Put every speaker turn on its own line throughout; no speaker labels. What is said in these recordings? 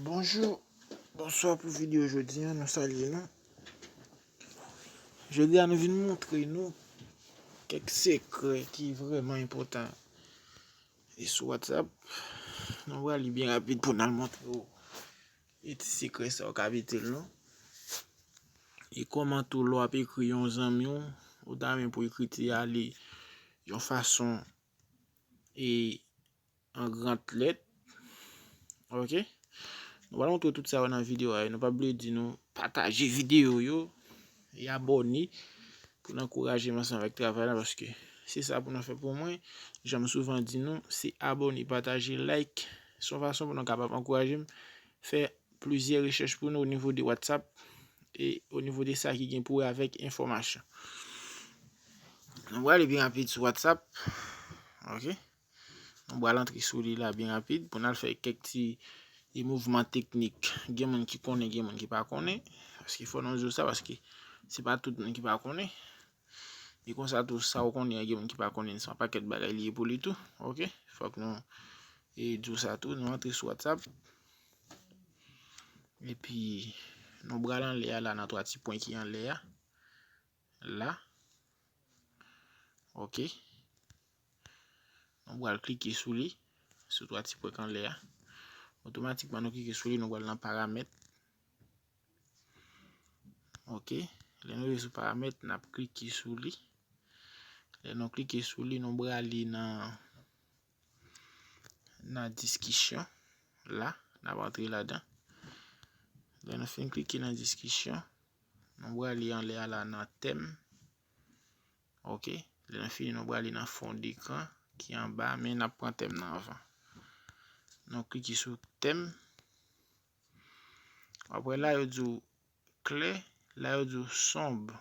Bonjou, bonswa pou videyo jodi an, nou salye nou. Jodi an nou vin moutre nou kèk sekrè ki vreman impotan. E sou WhatsApp, nou wè li byen rapid pou nan moutre ou E ti sekrè sa ou ka metel non. E kòman tou lè wap ekri yon zanmi w, ou ta renmen pou ekriti a li yon fason e an gran lèt. Ok. Nou pral montre w tout sa yo nan videyo a e nou pa bliye di nou pataje videyo yo. E abòne pou n ankouraje m ansanm avèk travay la paske se sa pou nan fè pou mwen. Jan m souvan di nou, se abòne, pataje, like. Se yon fason pou nou kapab ankouraje m fè plizyè rechèch pou nou onivo de Whatsapp e onivo de sa ki gen pou wè avèk enfòmasyon. Nou prale pi rapid sou Whatsapp. Ok. Mwen pral antre sou li la byen rapid pou nan fè kèk ti e mouvman teknik. Gen moun ki konnen, gen moun ki pa konnen. Paske fò nan zo sa, paske se pa tout moun ki pa konnen. E konsa tou sa ou konnen, gen moun ki pa konnen, se pa pakèt bagay li e pou li tou. Ok, fòk nou e zo sa tou, nou antre sou WhatsApp. E pi nou pral anle a la nan 3 ti pwen ki anle a. la. Ok. Nou pral klike sou li. Sou 3 ti pwèk anlè a. Otomatikman nou klike sou li. Nou pral nan paramèt. Ok. Lè nou vye sou paramèt. N ap klike sou li. Lè nou klike sou li. Nou pral li nan. nan diskisyon la, n ap antre ladan. Lè nou fin klike nan diskisyon, nou prale anlè a la nan tèm. Ok, lè nou fini nou prale nan fon dekran ki anba a, men n ap pran tèm nan anvan. Nou klike sou tèm. Apre la yo di w Klè, la yo di w sonb.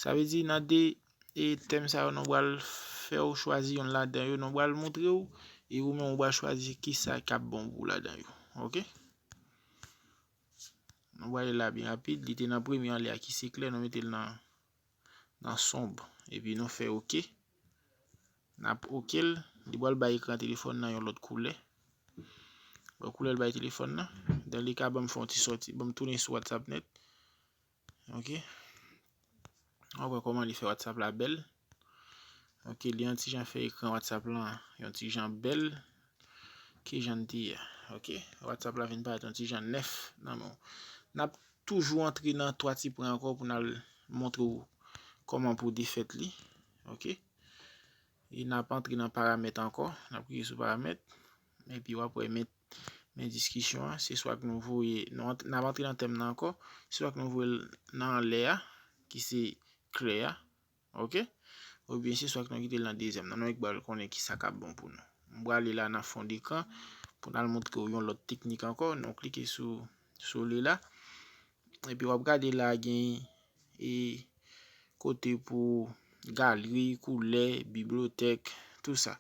Sa vle di nan 2 tèm sa yo nou pral fè w chwazi yonn ladan yo, nou pral montre w e ou menm ou pral chwazi kisa k ap bon pou w ladan yo. Ok. Nou pral ale la pi rapid, li te nan premye anlè a ki se klè, nou mete l nan. nan sonb epi nou fè ok nap ok l li pral bay ekran telefòn nan yon lòt koulè wè koulè l bay telefòn nan dan li ka banm fè yon ti sòti banm tounen sou whatsapp net ok wap wè kòman li fè whatsapp la bèl ok li yon ti jan fè ekran whatsapp lan yon ti jan bèl Kijan n te ye? Ok. Whatsapp la vin parèt yon ti jan nèf nan men w. N ap toujou antre nan 3 ti pwen ankò pou n al montre w kòman pou w defèt li. Ok. E n ap antre nan paramèt ankò. N ap klike sou paramèt. Epi w ap wè men men diskisyon an. Se swa ke nou voye, n ap antre nan tèm nan ankò. Se swa ke nou voye l nan anlè a, ki se kle a. Ok Ou byen se swak nou kite l nan dezyèm nan nou ek bal konnen ki sa kap bon pou nou. M prale la nan fond ekran pou nan montre ou yon lòt teknik ankò nou klike sou sou li la epi wap gade la gen e kote pou galri, koulè, biblotèk tou sa.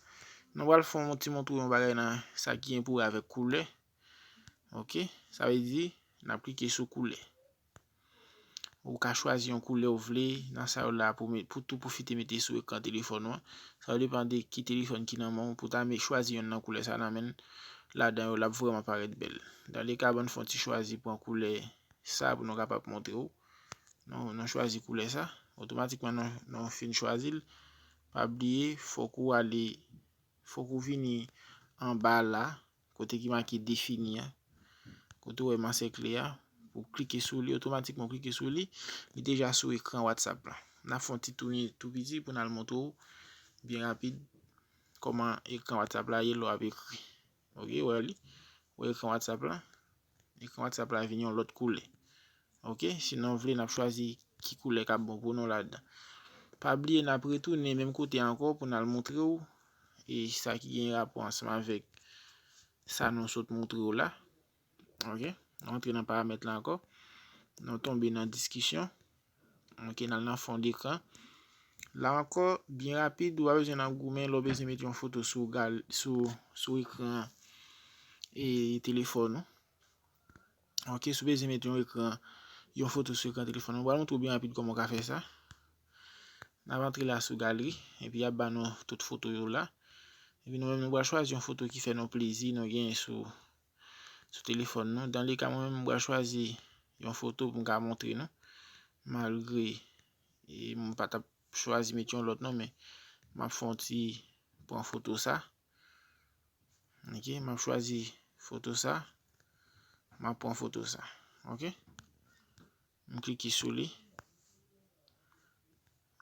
Nou pral fon yon ti montre yon bagay nan sa ki gen pou wè avèk koulè ok sa vle di nap klike sou koulè. Ou ka chwazi yon koulè ou vle nan sa yo la pou met pou tou pwofite mete sou ekran telefòn ou an. Sa yo depan de ki telefòn ki nan men w pou ta me chwazi yonn nan koulè sa nan men ladan yo l ap vrèman parèt bèl. Dan le ka bann fè yon ti chwazi pran koulè sa pou nou kapab montre w. Nou nou chwazi koulè sa. Otomatikman nou nou fin chwazi l. Pa bliye fòk ou ale fòk ou vini anba la. Kote ki make defini a. Kote ou wè m ansèkle a. Ou klike sou li. Otomatikman ou klike sou li. Li deja sou ekran WhatsApp la. N ap fè yon ti tounen tou piti pou n al montre ou byen rapid kòman ekran WhatsApp la ye lè w ap ekri. Ok, ou wè li? Ou wè ekran WhatsApp la? Ekran WhatsApp la vin yon lòt koulè. Ok, si nou vle nap chwazi ki koulè kap bon pou nou ladan. Pa bliye nap retounen menm kote ankò pou nal montre ou e sa ki gen rapò ansanm avèk sa nou sot montre ou la. Ok, nou antre nan paramèt la ankò. Nou tonbe nan diskisyon. Ok, n al nan fond ekran. La ankò, byen rapid, ou pa bezwen nan goumen lè w bezwen mete yon foto sou ekran e telefòn ou. Ok, si w bezwen mete yon ekran, yon foto sou ekran telefòn ou, m pral montre w byen rapid kòman w ka fè sa. N ap antre la sou galri, epi y ap ba nou tout foto yo la. Epi nou menm nou pral chwazi yon foto ki fè nou plezi nou genyen sou. sou telefòn nou. Dan le ka mwen menm m pral chwazi yon foto pou m ka montre nou. Malgre m pa t ap chwazi met yon lòt non men m ap fè yon ti pran foto sa. Ok, m ap chwazi foto sa. M ap pran foto sa. Ok, m klike sou li.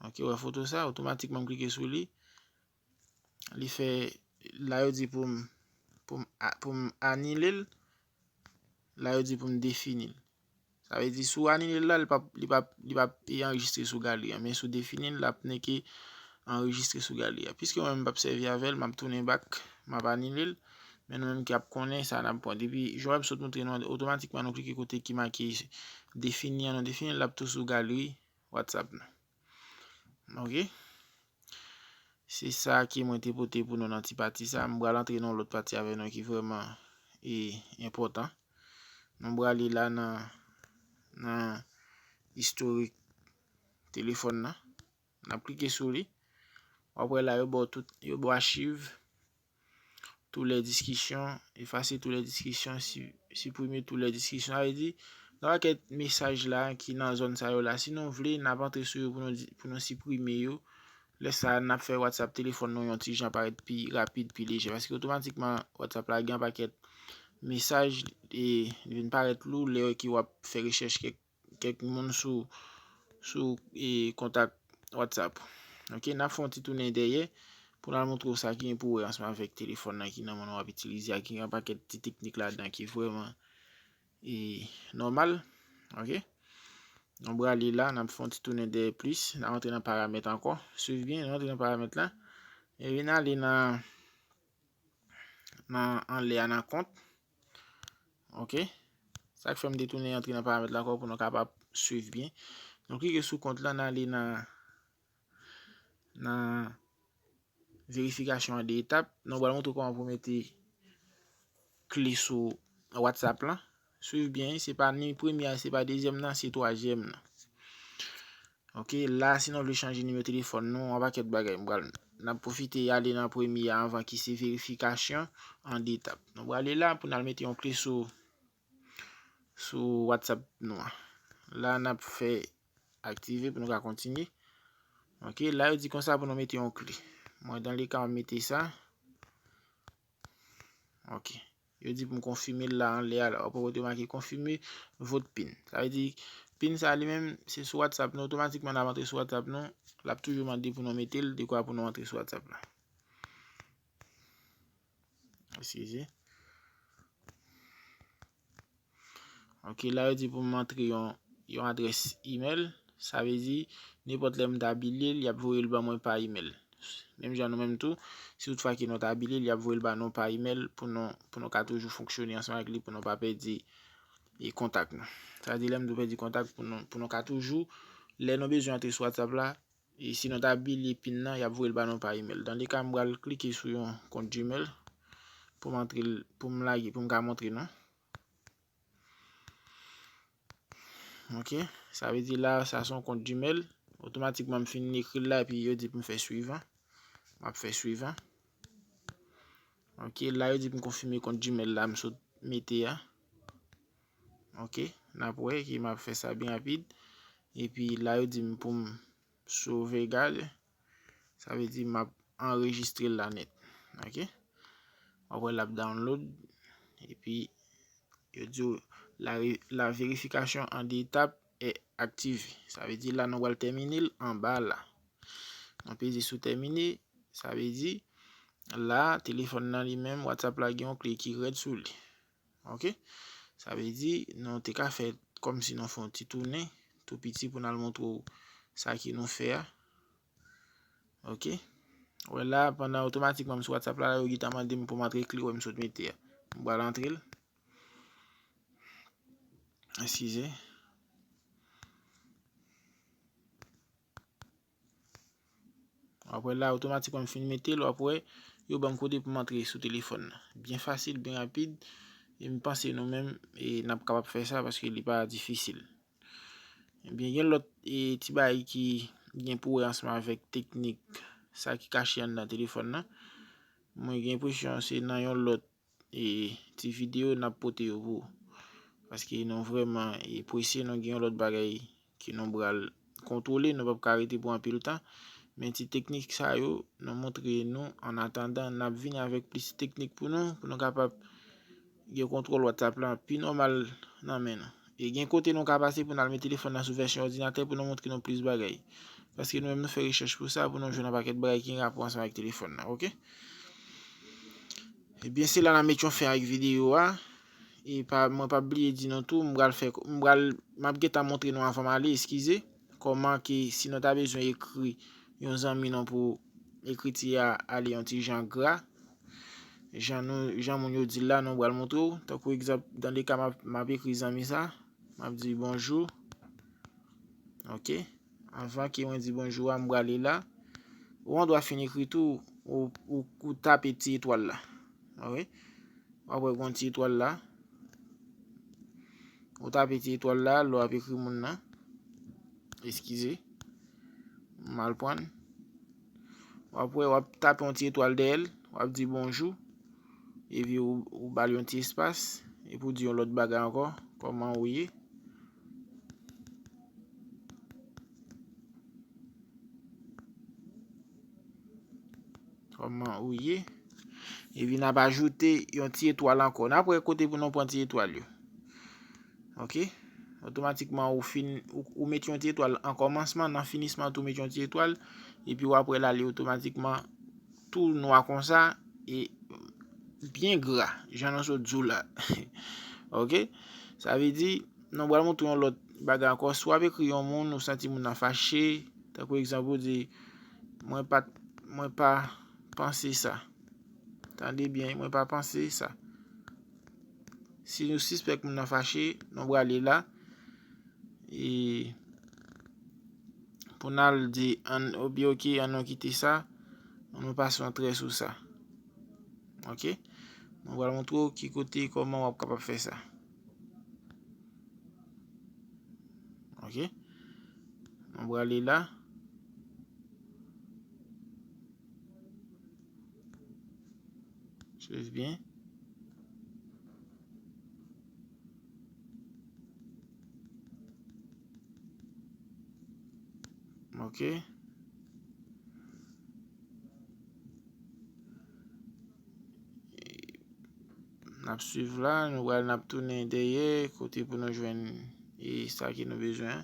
Ok, wè foto sa, otomatikman m klike sou li. Li fè, la yo di pou m, pou m, pou m anile l, la yo di pou m defini l. Sa vle di si w anile l la, li pap, li pap, li pap anrejistre sou galeri an, men si w defini l, l ap neke anrejistre sou galeri an. Piske mwen m pap sèvi avè l, m ap tounen bak, m ap anile l, men nou menm ki ap konnen sa n ap pran. Depi, jan mwen sot montre nou an, otomatikman nou klike kote ki make defini an, nou defini l, l ap tou sou galeri WhatsApp nou. Ok. Se sa ki mwen te pote pou nou nan ti pati sa. M pral antre nan lòt pati avè nou ki vreman e enpòtan. Nou pral li la nan nan istorik telefòn nan. N ap klike sou li. Wap wè la yo ba w tout yo ba w achiv. Tou lè diskisyon, efase tou lè diskisyon, siprime tou lè diskisyon. Sa vle di, nan pakèt mesaj la ki nan zòn sa yo la, si nou vle, n ap antre sou yo pou nou siprime yo. Lè sa a, n ap fè Whatsapp telefòn nou yon ti jan parèt pi rapid, pi lejè. Paske otomatikman, Whatsapp la gen yon pakèt mesaj e li vin parèt lou lè ki w ap fè rechèch kèk kèk moun sou sou e kontak WhatsApp ok nap fè yon ti tounen dèyè pou nal montre w sa ki gen pou wè ansanm avèk telefòn nan ki nan men w wap itilize a ki gen yon pakèt ti teknik ladan ki vrèman e nòmal ok nou brale la nap fè yon ti tounen dèyè plis nan rantre nan paramèt ankò swiv byen nan rantre nan paramèt la e vin ale nan nan anlè a nan kont Ok. Sa k fè m te tounen antre nan paramèt la ankò pou nou kapab swiv byen. Nou klike sou kont la, n ale nan nan verifikasyon an 2 etap. Nou pral montre w kòman pou mete kle sou Whatsapp lan. Swiv byen, se pa ni premye a, se pa dezyèm nan, se twazyèm nan. Ok la si nou vle chanje nimewo telefòn nou yon pakèt bagay m pral nap pwofite ale nan premye a anvan ki se verifikasyon an 2 etap nou prale la pou nal mete yon kle sou sou whatsapp nou an la nap fè aktive pou nou ka kontinye ok la yo di konsa pou nou mete yon kle mwen dan le ka mwen mete sa. Ok. Yo di pou m konfime l la anlè a la. Wap wè kote yo make konfime vot pin. Sa vle di pin sa li menm se sou WhatsApp nou otomatikman lap antre sou WhatsApp nou. Lap toujou mande pou nou mete l dekwa pou nou antre sou WhatsApp la. Eskize. Ok la yo di pou m antre yon adrès email. Sa vle di, nenpòt lè m ta bile l, y ap voye l ban mwen pa email. Menm jan nou menm tou, si tout fwa ke nou ta bile l, y ap voye l ba nou pa email pou nou ka toujou fonksyone ansanm avèk li pou nou pa pèdi kontak nou. Sa vle di lè m di pèdi kontak pou nou ka toujou lè nou bezwen antre sou WhatsApp la, E si nou ta bliye pin nan, y ap voye l ba nou pa email. Dans le cas, m pral klike sou yon kont Gmail pou m antre l, pou m lage, pou m ka montre nou. Ok, sa vle di la, sa son kont Gmail. Otomatikman m fin ekri l la epi yo di pou m fè suivant. M ap fè suivant. Ok, la yo di pou m konfime kont Gmail la m sot mete a. Ok nap wè ki map fè sa byen rapid epi la yo di m pou m sove gad sa vle di map anrejistre la nèt ok wap wè lap download epi yo di w la verifikasyon an 2 etap e aktive sa vle di la nou pral tèmine l anba la nou peze sou tèmine sa vle di la telefòn nan li menm whatsapp la gen yon kle ki rèd sou li. Ok. Sa vle di, nou te ka fè kòm si nou fè yon ti tounen, tou piti pou nan montre ou sa ki nou fè a. Ok. Ou wè la, pandan otomatikman m sou WhatsApp la, yo gita mande m pou m antre kle wè m sot mete a. M pral antre l. Eskize. Wap wè la otomatikman m fin mete l wap wè yo banm kode pou m antre sou telefòn nan. Byen fasil, byen rapid e m panse nou menm nap kapab fè sa paske li pa difisil. Ebyen gen lòt ti bagay ki gen pou wè ansanm avèk teknik sa ki kache anndan telefòn nan. Mwen gen enpresyon se nan yon lòt E ti video nap pote yo pou paske nou vreman e prese nou gen yon lot bagay ke nou bral kontwole nou pap ka rete pou anpil tan men ti teknik sa yo nou montre nou an atandan nap vini avek plis teknik pou nou pou nou kapab gen kontwol WhatsApp la pi nomal nan men nou. E gen kote nou ka pase pou n al met telefòn nan sou vèsyon òdinatè pou nou montre nou plis bagay. Paske nou menm nou fè rechèch pou sa pou nou jwenn yon pakèt bagay ki gen rapò ansanm avèk telefòn nan. Ok. Ebyen se la nan met yon fen ak videyo a. E pa mwen pa bliye di nou tou m pral fè m pral m ap gentan montre nou avan m ale eskize kòman ke si nou ta bezwen ekri yon zanmi nou pou ekriti a ale yon ti jan gra Jan nou, jan moun yo di l la, nou pral montre w. Tankou egzanp, dan le ka m ap, m ap ekri zanmi sa, m ap di bonjou. Ok. Anvan ke mwen di bonjou a, m prale la. Ou andwa fin ekri tou, ou, ou, ou tape ti etwal la. Ou wè? Ou ap wè gon ti etwal la. Ou tape ti etwal la, lè w ap ekri moun nan. Eskize. M mal prann. Wap wè wap tape yon ti etwal dèyèl, wap di bonjou, epi ou bal yon ti espas, epi ou di yon lòt bagay ankò, kòman ou ye. Kòman ou ye. Epi nap ajoute yon ti etwal ankò. Nap wè kote pou nou pran ti etwal yo. Ok. Otomatikman ou fin, ou met yon ti etwal an kòmansman, nan finisman tou met yon ti etwal, epi wap wè la li otomatikman tou nwa konsa, e byen gra, jan nou sot di w la. Ok, sa vle di, nou pral montre yon lòt bagay ankò, si wap ekri yon moun, ou santi moun nan fache, tankou egzanp ou di, mwen pa, mwen pa panse sa. Tande byen, mwen pa panse sa. Si nou sispèk moun nan fache, nou brale la. E pou n al di an obi ok an nou kite sa, nou pase yon trè sou sa. Ok. Mwen pral montre w ki kote kòman w ap kapab fè sa. Ok. Nou brale la. Swiv byen. Ok. N ap swiv la, nou wè n ap tounen dèyè kote pou nou jwenn e sa ki nou bezwen.